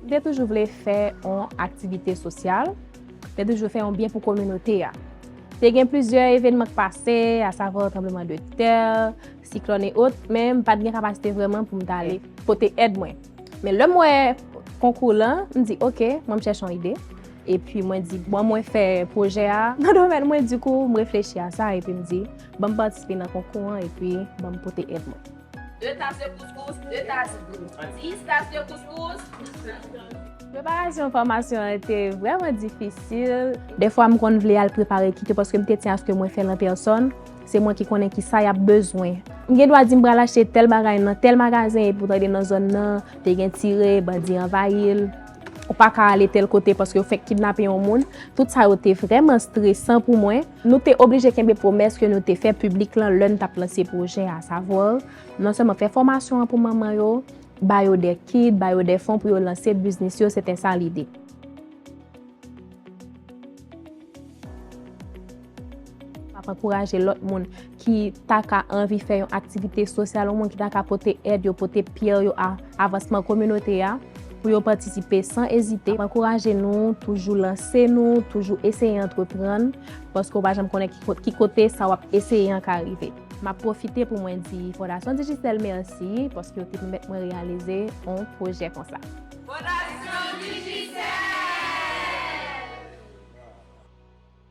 M te toujou vle fè yon aktivite sosyal, m te toujou vle fè yon byen pou kominote a. Te gen plizyè evènman k pase, asavwa tranbleman de tè, Siklòn e ot, men m pat gen kapasite vrèman pou m t ale pote èd mwen. Men lè m wè konkou lan, m di ok, mwen m chèche yon ide. Epi mwen di bon mwen fè pwojè a nan domèn mwen, dikou m reflechi a sa epi m di ban m patisipe nan konkou an epi ban m pote èd mwen. De tas de kouscous, de tas dlo. Dis tas de kouscous, dis tas dlo. Preparasyon fòmasyon an te vrèman difisil. Dèfwa m konn vle al prepare kit yo paske m te di aske mwen fè l an pèsòn. Se mwen ki konnen ki sa y ap bezwen. M gen dwa di m pral achte tèl bagay nan tèl magazen epi w tande nan zòn nan te gen tire, bandi anvayi l, ou pa ka ale tèl kote paske yo fèk kidnape yon moun. Tout sa yo te vrèman stresan pou mwen. Nou te oblije kenbe pwomès ke nou te fè piblik lan lè n t ap lanse pwojè a. Savwa, non sèlman fè fòmasyon an pou manman yo, ba yo de kit, ba yo de fon pou yo lanse biznis yo, se te sa lide. Map ankouraje lòt moun ki ta ka anvi fè yon aktivite sosyal ou moun ki ta ka pote èd yo, pote pyè yo a avansman kominote a pou yo patisipe san ezite. Map ankouraje nou toujou lanse nou, toujou eseye antreprann, paske ou pa janm konnen ki kote sa wap eseye an ka rive. Map pwofite pou mwen di Fondasyon Digicel mèsi paske yo te pèmèt mwen reyalize yon pwojè konsa. Fondasyon Digicel!